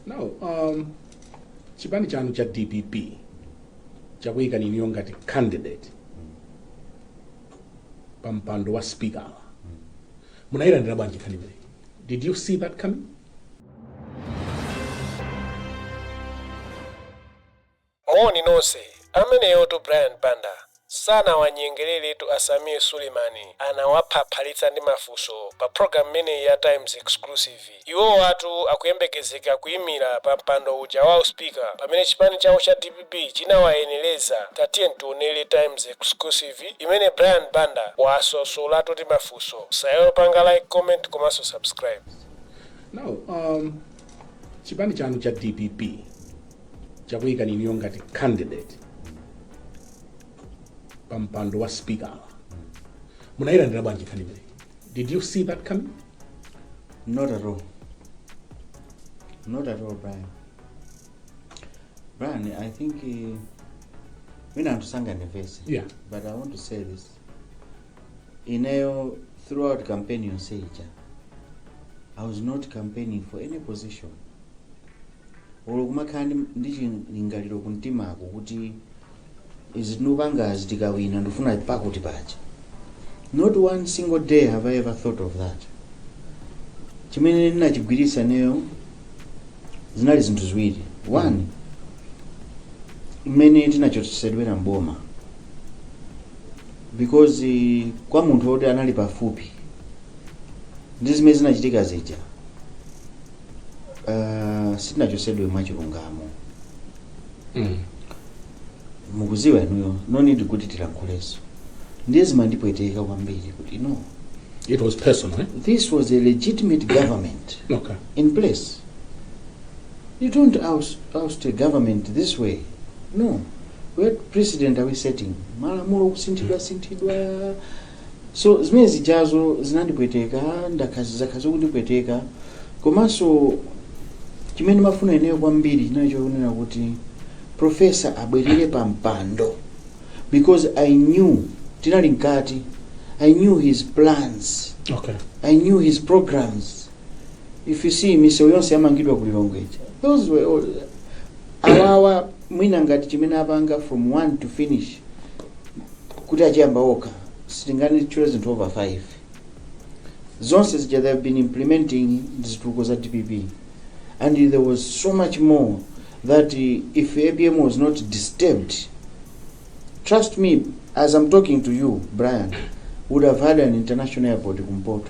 now um, chipani chanu cha dpp chakuyikani inuyo ngati candidate pa mpando wa speaker munayilandira bwanji nkhani imeneyi did you see that coming Moni nonse. Ameneyotu Brian Banda sanawanyengereretu a Sameer Suleiman anawaphaphalitsa ndi mafunso pa program imeneyi ya Times Exclusive. Iwowatu akuyembekezeka kuimira pa mpando uja wa u speaker pamene chipani chawo cha dpp chinawayenereza. Tatiyeni tionere Times Exclusive imene Brian Banda wawasosolatu ndi mafunso. Musaiwale kupanga like, comment komanso subscribe. Now, um, Chipani chanu cha dpp chakuyikani inuyo ngati candidate pa mpando wa speaker. Munayilandira bwanji nkhani imeneyi? Did you see that coming? Not at all. Not at all, Brian. Brian, I think uh, musandipange nervous. Yeah. But I want to say this. ineyo throughout campaign yonse ija i was not campaigning for any position olo kumakhala ndi- ndi chilingaliro kumtimako kuti izi tikupangazi tikawina ndifuna pakuti paja not one single day have i ever thought of that chimene ndinachigwiritsa ineyo zinali zinthu ziwiri one mmene tinachotsedwera mboma because eh, kwa munthu woti anali pafupi ndi zimene zinachitika zija uh, sitinachosedwe mwachilungamo Mm. mukuziwa inuyo no need kuti tilankhulenso ndiye zimandipweteka kwambiri kuti no It was personal, eh? this was a legitimate government Okay. in place you don't oust, oust a government this way no what precedent are we setting malamulo kusinthidwa sinthidwa so zimene zijazo zinandipweteka ndakhala zikundipweteka komanso chimene ndimafuna ineyo kwambiri chinali chokunena kuti profesa abwerere pa mpando because i knew tinali mkati i knew his plans okay i knew his programs if you see misewu yonse yamangidwa ku lilongwe ija those were all awawa mwina ngati chimene apanga from one to finish kuti achiyamba okha simunganditchulire zinthu over five zonse zija they have been implementing zitukuko za dpp and there was so much more that uh, if apm was not disturbed trust me as i'm talking to you brian would have had an international airport kumpoto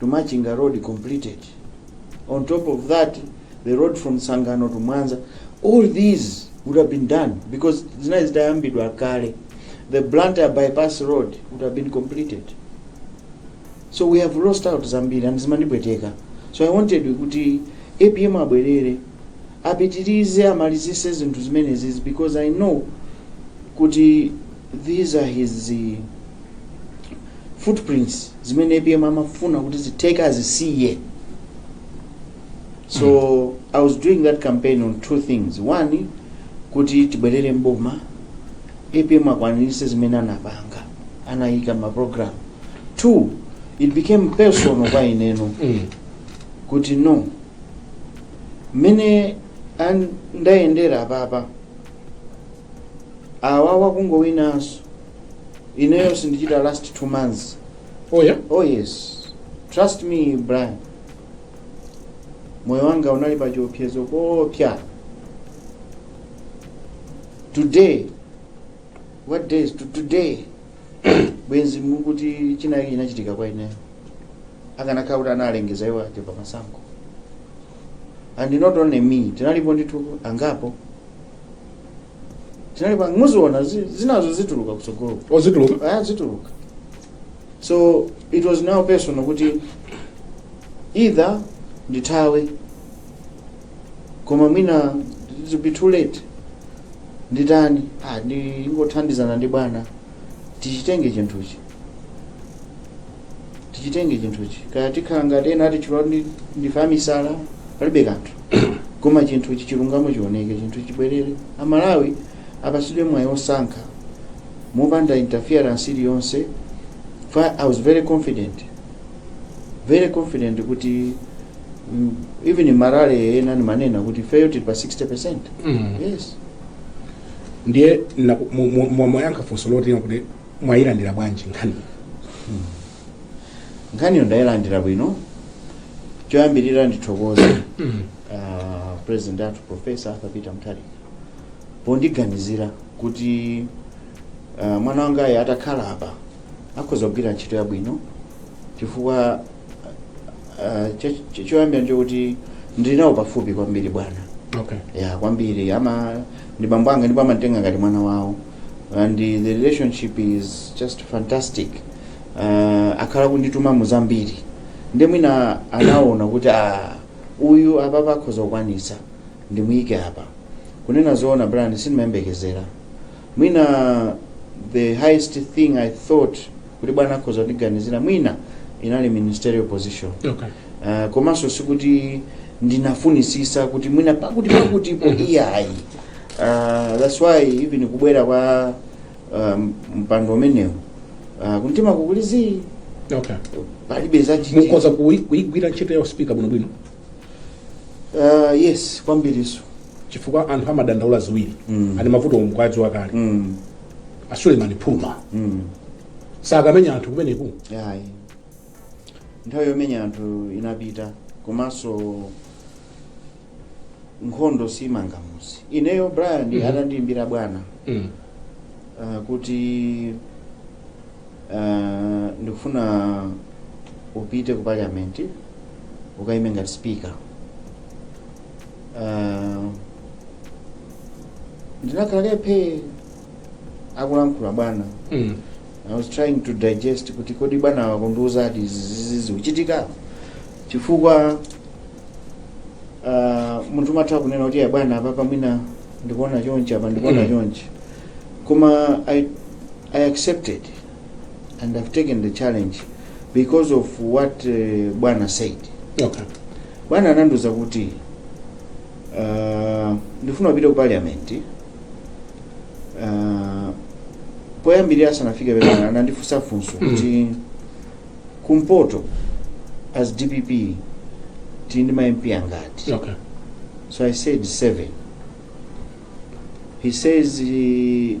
to Machinga road completed on top of that the road from Tsangano to Mwanza all these would have been done because zinali zitayambidwa kale the Blantyre bypass road would have been completed so we have lost out zambiri and zimandipweteka so i wanted kuti apm abwerere apitilize amalizise zinthu zimenezizi because i know kuti these are his eh, footprints zimene apm amafuna kuti zitheke azisiye so i was doing that campaign on two things one kuti tibwerere mboma apm akwanirise zimene anapanga anayika maprogram two it became personal kwa ineno Mm. kuti no mmene a- ndayendera apapa awa wakungowinanso ineyo sindichita last two months oh yeah oh yes trust me brian moyo wanga unali pa chiopsezo koopsa today what day is to today bwenzi mukuti china ichi chinachitika kwa ineyo akanakhala kuti analengeza iwo apambana zisankho and not only me tinalipo ndithu angapo tinalipo ang- muziona zi- zinazo zituluka kutsogolo oh zituluka aa zituluka so it was now personal kuti either ndithawe koma mwina it'll be too late nditani ah, ndingothandizana ndi bwana tichitenge chinthuchi tichitenge chinthuchi kaya tikhala ngati ena atitcha kuti ndife amisala palibe kanthu koma chinthuchi chilungamo chioneke chinthuchi chibwerere amalawi apasidwe mwayi osankha mopanda interference iliyonse fa i was very confident very confident kuti Mm, even ma rally ena ndimanena kuti ifeyo tili pa 60 percent Mm. yes ndiye na- mu- mu- mu- mwayankha funso loti kuti mwayilandira bwanji nkhani nkhaniyo ndayilandira bwino choyambirira ndithokoze ah, president athu professor arthur peter mutharika pondiganizira kuti ah, mwana wangayo atakhala apa akhoza kugwira ntchito yabwino chifukwa Ah, cho- cho- choyambirira nchokuti ndili nawo pafupi kwambiri bwana okay yeah kwambiri ama ndi bambo anga ndipo amanditenga ngati mwana wawo and the relationship is just fantastic uh, akhala kundituma mu zambiri ndi mwina anaona kuti ah, uyu apa akhoza kukwanisa ndimuyike apa kunena zoona brian sindimayembekezera mwina the highest thing i thought kuti bwana akhoza kundiganizira mwina inali ministerial position okay uh, komanso sikuti ndinafunisisa kuti mwina pakuti pakutipo iyayi uh, that's why even kubwera kwa um, mpando umenewu uh, kumtima kukulizi okay palibe mukhoza kuyi- kuyigwira ntchito ya usipika bwinobwino uh, yes kwambirinso chifukwa anthu amadandaula ziwiri Mm. ali mavuto nkhwazi wakale mm. asulemani phuma mm. sakamenya anthu kumeneku iyayi nthawi yomenya anthu inapita komanso nkhondo simanga mudzi ineyo brian Mhm. atandiimbira bwana mm. uh, kuti Uh, ndikufuna upite ku parliament ukaime ngati speaker uh, ndinakhala phee akulankhula bwana Mm. i was trying to digest kuti kodi bwana akundiuza ati izizi zikuchitika chifukwa uh, munthu umatha kunena kuti "Ya bwana apapa mwina ndikuona chonchi apa ndikuona Mm. chonchi koma i I accepted and I've taken the challenge because of what uh, Bwana said. Okay. Bwana anandiuza kuti uh, ndifuna upite ku parliament uh, poyambirira asanafike bwana anandifunsa funso kuti kumpoto as dpp tili ndi ma mp angati Okay. so i said seven he says uh,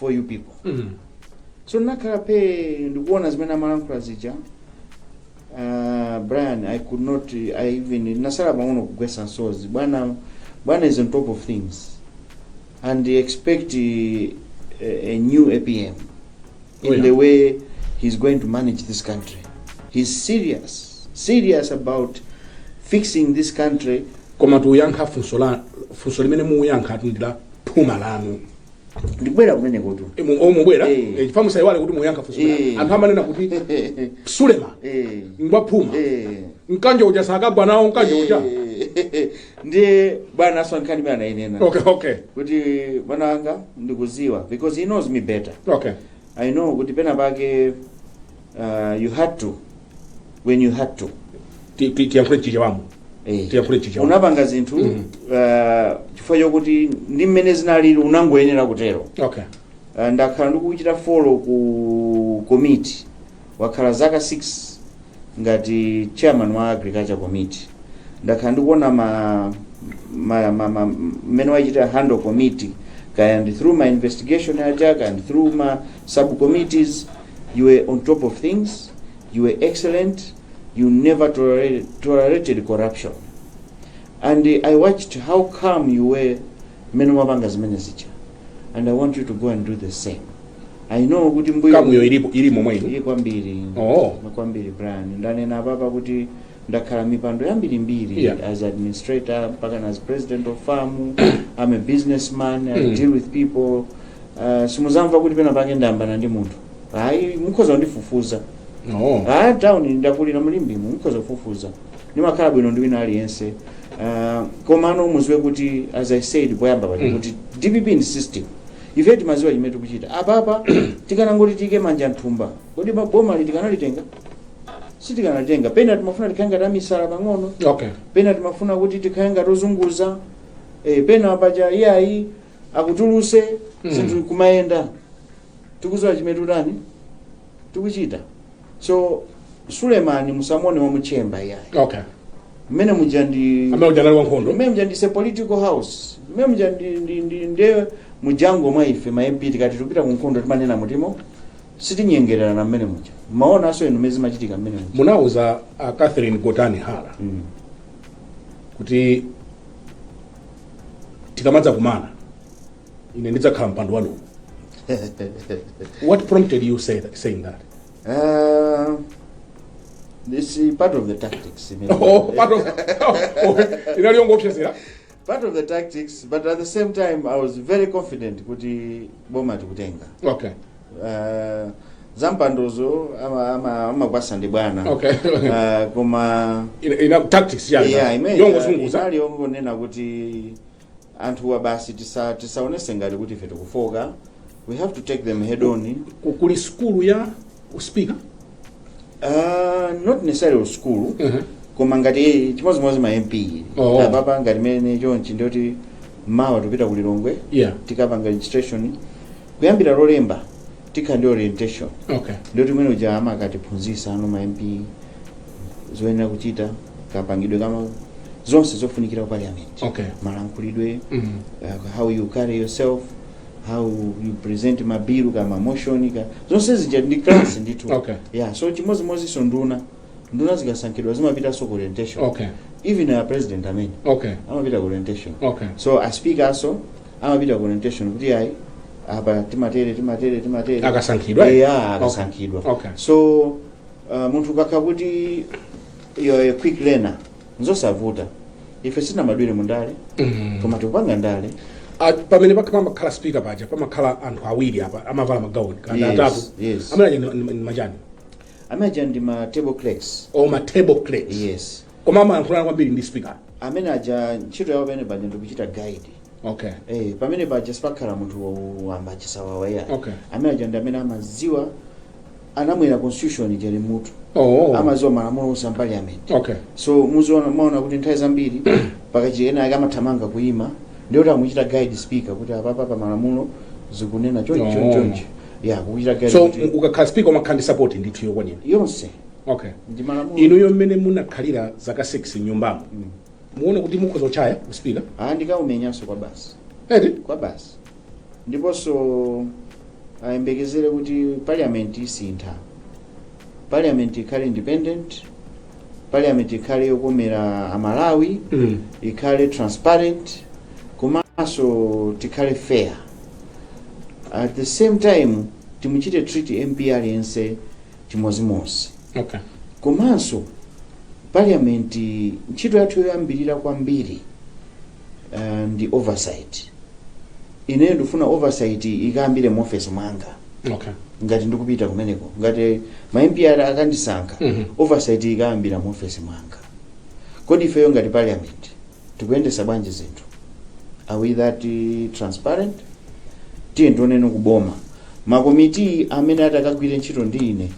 for you people Mm. so ndinakhala phee ndikuona zimene amalankhula zija uh, brian i could not i even ndinatsala pang'ono kugwetsa msozi bwana bwana is on top of things and expect uh, a, a new apm in Oh, yeah. the way he's going to manage this country he's serious serious about fixing this country koma tiyankha funso la funso limene muyankha atundila phuma lanu ndikubwera kumenekotu Eh, mu- oh, mubwera Eh. Eh, chifukwa musaiwale kuti muyankha funso Eh. lanu. anthu amanena kuti sulema Eh. ngwaphuma Eh. mkanjo uja sakagwa nawo mkanjo uja Eh, ndiye bwana nkhani imene anayinena okay okay kuti mwana wanga ndikuziwa because he knows me better okay i know kuti pena pake Uh, you had to when you had to Ti- ti- tiyankhule Chichewa muno Eh. tiyankhule Chichewa muno unapanga zinthu Mhm. uh, chifukwa chokuti ndi mmene zinalili unangoyenera kutero okay Uh, ndakhala ndikuchita follow ku committee wakhala zaka 6 ngati chairman wa agriculture committee ndakhala ndikuona ma ma- ma- ma- mmene wachita handle committee kaya ndi through ma investigation aja kaya ndi through ma subcommittees You were on top of things, you were excellent, you never tolerated, tolerated corruption. And uh, I watched how calm you were mmene mumapanga zimene zija. And I want you to go and do the same. I know kuti mbuyo kamuyo ilipo ili momwe ino ili kwambiri Oh. kwambiri Brian ndanena apapa kuti ndakhala mipando yambirimbiri Yeah. as administrator mpaka as president of FAM i'm a businessman i Mm. deal with people Ah, simuzamva kuti pena pake ndayambana ndi munthu ayi mukhoza kundifufuza no ah town ndakulira m'Limbemu mukhoza kufufuza ndimakhala bwino ndi wina aliyense Ah, komano muziwe kuti as i said poyamba paja Mm. kuti dpp ndi system ife timaziwa chimene tikuchita apapa tikanangoti tiike manja mthumba kodi ma- boma tikanalitenga sitikanalitenga pena timafuna tikhale ngati amisala pang'ono okay pena timafuna kuti tikhale ngati ozunguza eh, pena paja iyayi akutuluse zinthu mm. kumayenda tikuziwa chimene tutani tikuchita so sulemani musamuone wa mu chamber iyayi okay mmene muja ndi amene uja anali wankhondo mmene muja it's a political house mmene muja ndi ndi ndi nde mu jungle mwa ife ma MP tikati tupita ku nkhondo timanena mutimo sitinyengererana mmene muja mumaonanso inu mmene zimachitika mmene muja munauza a catherine gotani hara mm. kuti tikamadzakumana ine ndidzakhala mpando wanuwo what prompted you say that, saying that Uh, this is part of the tactics. you know. oh, part of, oh, inali yongoopsezera part of the tactics, but at the same time, I was very confident kuti boma tikutenga. okay uh, zampandozo amagwasa ndi bwana okay. uh, koma ina, ina tactics yani yeah, imene yongozunguza inali yongonena kuti anthuwa basi tisa- tisaonese ngati kuti ife tikufooka we have to take them head on kuli sukulu ya speaker Ah, not necessarily school Mhm. koma ngati chimodzimodzi ma mp Oh. apapa ngati mene chonchi ndoti mawa tikupita ku lilongwe yeah tikapanga registration kuyambira lolemba tikhala ndi orientation okay ndoti mmene muja amakatiphunzisano ma mp zoyenera kuchita kapangidwe kama zonse zofunikira ku parliament okay malankhulidwe mm. uh, how you carry yourself how you present mabilu ka ma motion ka zonse zija ndi class ndithu Okay. yeah so chimodzimodzinso nduna nduna zikasankhidwa zimapitanso ku orientation okay even a president amene okay amapita ku orientation okay so a speaker also amapita ku orientation kuti ayi apa timatere timatere timatere akasankhidwa eh? yeah akasankhidwa okay so uh, munthu ukakha kuti you're a quick learner nzosavuta ife sitinabadwire mu ndale koma tikupanga ndale Ah, pamene paja pamakhala speaker paja pamakhala anthu awiri apa amavala magauni kana Yes, atatu yes. amene aja ndi- ndi ndi machani amaja ndi ma table clerks Oh ma table clerks yes koma amayankhulana kwambiri ndi speaker amene aja ntchito yawo pamene paja ndikuchita guide okay Eh, pamene paja sipakhala munthu wamba chisawawa ayi Okay. amene aja ndi amene amaziwa anamwera constitution ija ili m'mutu Oh. amaziwa malamulo onse a parliament Okay. so muziona maona kuti nthawi zambiri pakachitika ena ake amathamanga kuima ndiye kuti akuchita guide speaker kuti apapa pa malamulo zikunena chonchi Oh. chonchi chonchi ya kuchita guide So kuti ukakhala speaker umakhala ndi support ndithu yokwanira. yonse Okay. ndi malamulo Inuyo mmene munakhalira zaka 6 m'nyumbamo. Muona kuti mukhoza kuchaya u speaker. ah ndikaumenyanso kwa basi Eti? kwa basi ndiponso ayembekezere kuti parliament isintha parliament ikhale independent parliament ikhale yokomera amalawi Mm. ikhale transparent komanso tikhale fair at the same time timuchite treat mp aliyense chimozimozi Okay. komanso parliament ntchito yathu yoyambirira kwambiri uh, ndi oversight ineyo ndikufuna oversight ikayambire mu office mwanga okay ngati ndikupita kumeneko ngati ma MP akandisankha Mhm. oversight ikayambira mu office mwanga kodi ifeyo ngati parliament tikuyendesa bwanji zinthu are we that uh, transparent ndiye tione kuboma makomiti amene atakagwire ntchito ndi ine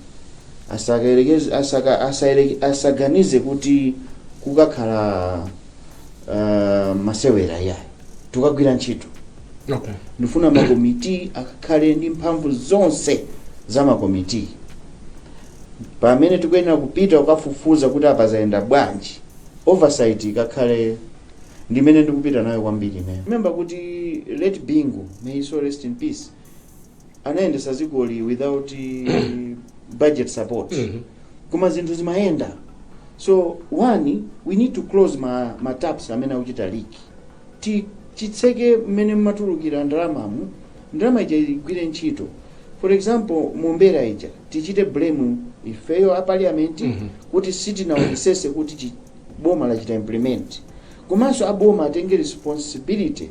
asakayerekeze- asaka- asayere- asaganize kuti kukakhala uh, masewera iyayi tikagwira ntchito okay ndifuna makomiti akakhale ndi mphamvu zonse za makomiti pamene tikuyenera kupita kukafufuza kuti apa zayenda bwanji oversight ikakhale ndimene ndikupita nayo kwambiri ine remember kuti late bingu may his soul rest in peace anayendesa dzikoli without budget support Mhm. koma zinthu zimayenda so one we need to close ma, ma taps amene akuchita leak Ti- titseke mmene mmatulukira ndalamamu ndalama ija igwire ntchito for example mombera ija tichite blame ifeyo a parliament Mhm. kuti sitinaonesese kuti chi- boma lachita implement komanso aboma atenge responsibility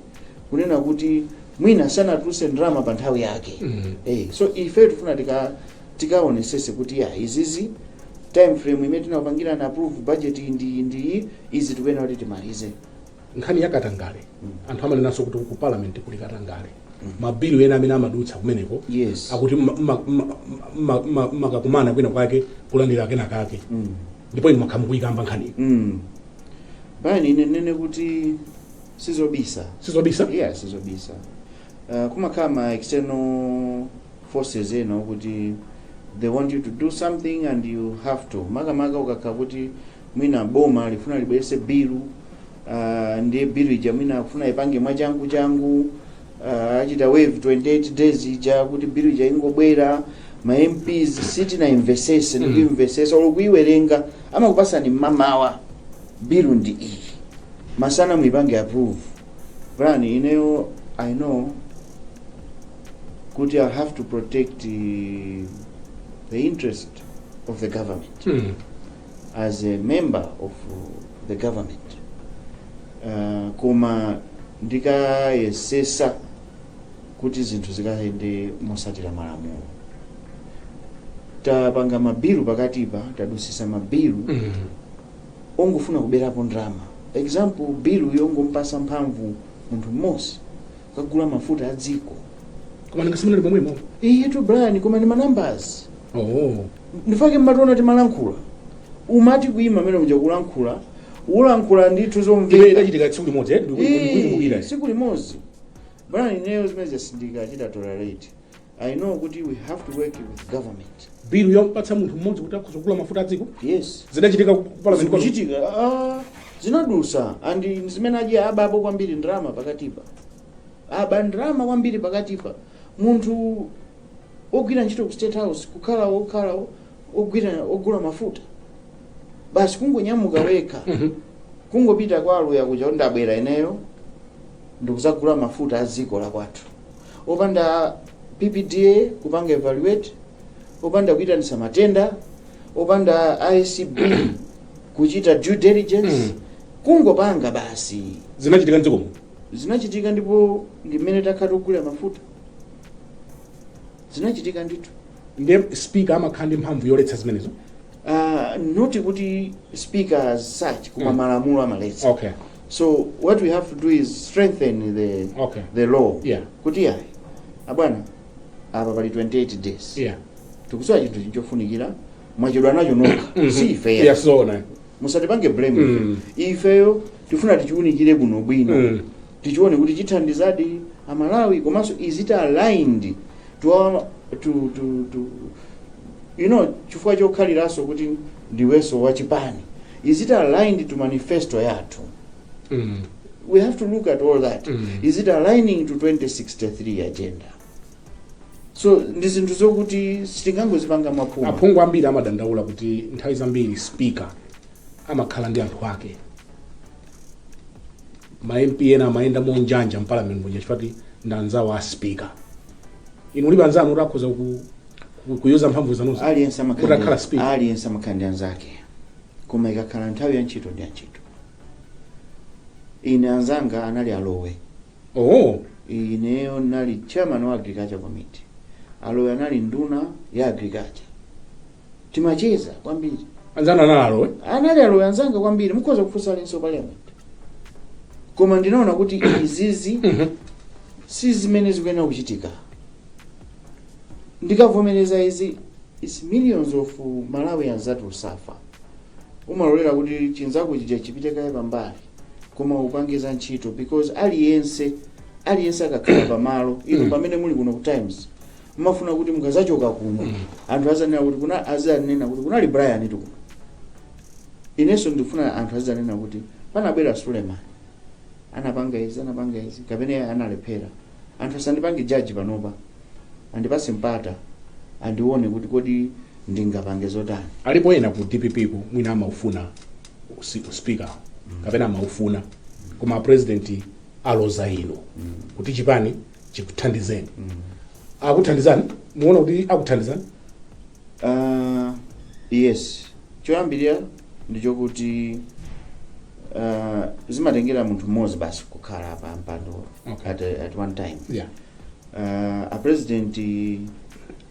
kunena kuti mwina sanatuluse ndalama pa nthawi yake mm. hey, eh, so ife tifuna tika tikaonesese kuti ya izizi time frame imene tinapangira na approve budget ndi ndi izi tikuyenera kuti timalize nkhani ya katangale mm. anthu amanenanso kuti ku parliament kuli katangale mm. mabilu ena amene amadutsa kumeneko yes. akuti makakumana kwina kwake kulandira kena kake mm. ndipo inu mwakhala mukuyikamba nkhani mm. Brian ine ninene kuti sizobisa sizobisa yeah sizobisa uh, kumakhala ma external forces ena okuti they want you to do something and you have to makamaka ukakhala kuti mwina boma lifuna libwerese bilu uh, ndiye bilu ija mwina akufuna ipange mwachangu changu uh, achita waive 28 days ija kuti bilu ija ingobwera ma mps sitinaimvesese Mm. ndikuimvesesa olo kuiwerenga amakupasani m'mamawa Bilu ndi iyi masana muipange approve Brian ineyo i know kuti i have to protect the interest of the government mm. as a member of the government uh, koma ndikayesesa kuti zinthu zikayende motsatira malamulo tapanga mabilu pakatipa tadusisa mabilu mm. ongofuna kuberapo ndalama example bilu yongompasa mphamvu munthu mmodzi kukagula mafuta a dziko koma ndingasimulire pomwemo iyitu brian koma ndi ma numbers oh ndifake mumationa timalankhula umati kuima mmene muja kulankhula ulankhula ndithu imene zomveka idachitika tsiku limodzi eh, ndiku- ndikukumbukira. tsiku limodzi Brian ineyo zimenezo sindikachita tolerate I know kuti we have to work with government. bilu yokupatsa munthu mmodzi kuti akhoza kugula mafuta a dziko Yes. zidachitika ku parliament pano. Zikuchitika ah, zinadusa and zimene zija abapo kwambiri ndalama pakatipa. Aba ndalama kwambiri pakatipa. Munthu ogwira ntchito ku State House kukhala okhala ogwira ogula mafuta. Basi kungonyamuka wekha. Mhm. kungopita kwa Aluya kuja kuti ndabwera ineyo ndikuzagula mafuta a dziko la kwathu opanda PPDA kupanga evaluate, opanda kuitanisa matenda, opanda ACB kuchita due diligence, Mm. kungopanga basi. zinachitika mdziko muno Zinachitika ndipo ndi mmene takhala tikugulira mafuta. Zinachitika ndithu. ndiye speaker amakhala ndi mphamvu yoletsa zimenezo uh, not kuti speaker as such koma Mm. malamulo amaletsa okay so what we have to do is strengthen the, Okay. the law Yeah. kuti yayi abwana apa pali 28 days yeah tikusowa chinthu nchofunikira mwachedwa nacho nokha si ife yeah so na musatipange blame Mm. ifeyo tifuna tichiunikire bwinobwino Mm. tichione kuti chithandizadi a Malawi komanso is it aligned to our to to to you know chifukwa chokhaliranso kuti ndiwenso wa chipani is it aligned to manifesto yathu Mm. we have to look at all that Mm. is it aligning to 2063 agenda so ndi zinthu zokuti sitingangozipanga mwaphuma aphungu ambiri amadandaula kuti nthawi zambiri speaker amakhala ndi anthu ake ma MP ena amayenda monjanja m'parliament muja chifukwa kuti ndi anzawo a speaker inu mulibe anzanu kuti akhoza ku, ku, kuyuza mphamvu zanuzo aliyense kuti akhala amakhala speaker aliyense amakhala ndi anzake koma ikakhala nthawi ya ntchito ndi ya ntchito ine anzanga anali a Lowe oh ineyo nali chairman wa agriculture committee a Lowe anali nduna ya agriculture timacheza kwambiri anzanu a Lowe anali a Lowe anzanga kwambiri mukhoza kufunsa aliyense wa parliament koma ndinaona kuti izizi si zimene zikuyenera kuchitika ndikavomereza izi its millions of malawians that will suffer umalolera kuti chinzako chija chipite kaye pambali koma upange za ntchito because aliyense aliyense akakhala pamalo inu pamene muli kuno ku Times Mmafuna kuti mukazachoka kuno anthu azanena kuti kuna azanena kuti kunali Brian tu kuno. Inenso ndikufuna anthu azanena kuti panabwera Suleman anapanga izi anapanga izi kapena iye analephera. Anthu asandipange judge panopa. Andipase mpata andione kuti kodi ndingapange zotani. Alipo ena ku DPP ku mwina amaufuna usi, uspeaker kapena amaufuna koma a president aloza inu kuti chipani chikuthandizeni akuthandizani muona kuti akuthandizani Uh, yes choyambirira ndi chokuti uh, zimatengera munthu mmodzi basi kukhala pa mpando Okay. at, a- at one time yeah. uh, a president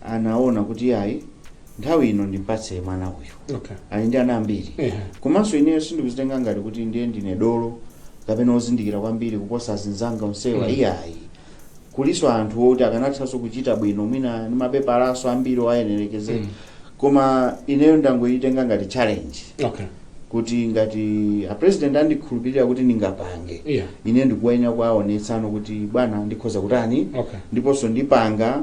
anaona kuti yayi nthawi ino ndimpatse mwana uyu Okay. ali ndi ana ambiri Ehe. komanso ineyo sindikuzitenga ngati kuti ndiye ndine dolo kapena ozindikira kwambiri kuposa azinzanga onsewa Mm. iyayi kulinso anthu oti akanathanso kuchita bwino mwina ndi mapepalanso ambiri owayenereza Mm. koma ineyo ndangoyitenga ngati challenge Okay. kuti ngati a president andikhulupirira kuti ndingapange Yeah. ine ndikuyenera kuwaonetsano kuti bwana ndikhoza kutani Okay. ndiponso ndipanga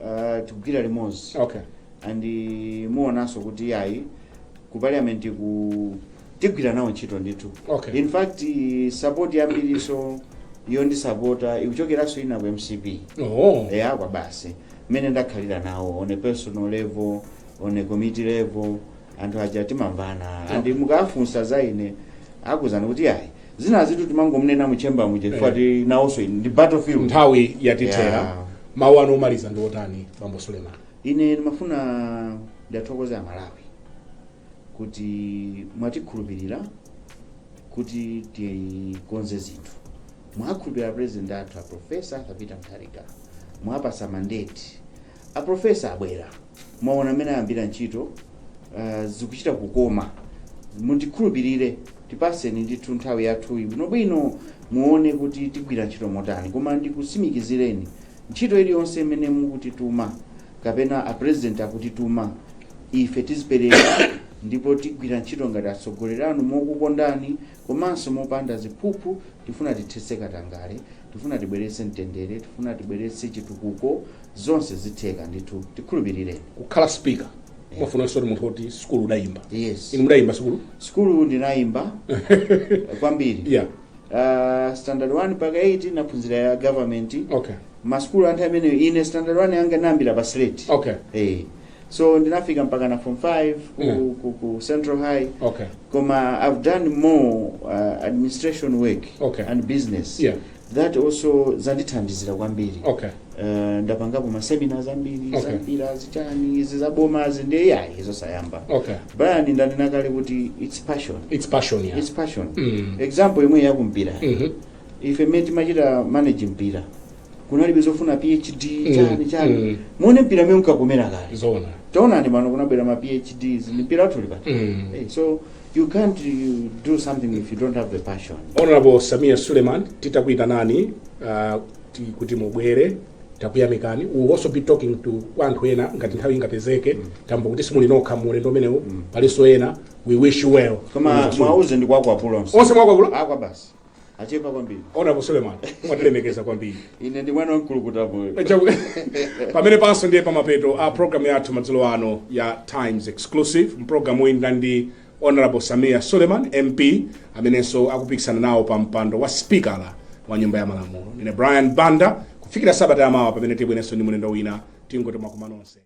uh, tigwira limodzi okay. and eh, muonanso kuti yayi ku parliament ku tigwira nawo ntchito ndithu Okay. in fact eh, support yambirinso yondisapota ikuchokeranso ina ku MCP oh. eya kwa basi mmene ndakhalira nawo on a personal level on a committee level anthu aja timamvana andi mukafunsa za ine akuuzani kuti yayi zina zitu timangomunena mu chamber muja chifukwa timaona ngati ndi battlefield nthawi yatithera Yeah. mawu anu omaliza ndi otani bambo suleman ine ndimafuna ndiathokoze amalawi kuti mwatikhulupirira kuti tikonze zinthu mwakhulupirira president athu a profesa Peter Mutharika mwawapatsa mandate A professor abwera mwaona mmene ayambira ntchito zikuchita kukoma mundikhulupirire tipaseni ndithu nthawi yathuyi bwinobwino muone kuti tigwira ntchito motani koma ndikutsimikizireni ntchito iliyonse imene mukutituma kapena a president akutituma ife tidzipereka ndipo tigwira ntchito ngati atsogoleri anu mokukondani komanso mopanda ziphuphu, tifuna tithetse katangale, tifuna tibweretse mtendere, tifuna tibweretse chitukuko, zonse zitheka ndithu, tikhulupirireni. Kukhala speaker umafunansotu munthu oti sukulu udayimba. Yes. Inu mudayimba sukulu? Sukulu ndinayimba kwambiri. Yeah. Uh, standard 1 mpaka 8 naphunzira ya government. Okay. Masukulu a nthawi imeneyo ine standard 1 yanga nayambira pa slate. Okay. Eh. so ndinafika mpakana form 5 ku, Yeah. ku, ku central high okay koma i've done more uh, administration work Okay. and business yeah that also zandithandizira kwambiri okay uh, ndapangapo maseminars ambiri Okay. zampira zichani izi zabomazi ndiye ayi zosayamba okay brian ndanena kale kuti its passion it's passion yeah its passion Mm. example yomweyi ya kumpira Mhm. ife mmene timachita manage mpira kunalibe zofuna phd Mm, chani chani mm. muone mpira mmene unkakomera kale zona taonani pano kunabwera ma phds ndiye mpira wathu uli pati Mm. Eh, so you can't do something if you don't have the passion honorable sameer suleman titakuyitanani uh, ti- kuti mubwere takuyamikani we will also be talking to kwa anthu ena ngati nthawi ingapezeke chifukwa kuti simuli nokha mu ulendo umenewu palinso ena we wish you well koma mwauze ndi kwakwapulo onse mwakwakula akwa basi achepa kwambiri honorable suleman mwatilemekeza kwambiri ine ndi mwana wamkulukutamoyo pamenepanso ndiye pamapeto a programu yathu madzulo ano ya times exclusive mu pulogalamuyi ndinali ndi honorable sameer suleman mp amenenso akupikisana nawo pa mpando wa sipikala wa nyumba ya malamulo ndine brian banda kufikira sabata yamawa pamene tibwerenso ndi mlendo wina tingoti mwakumanonse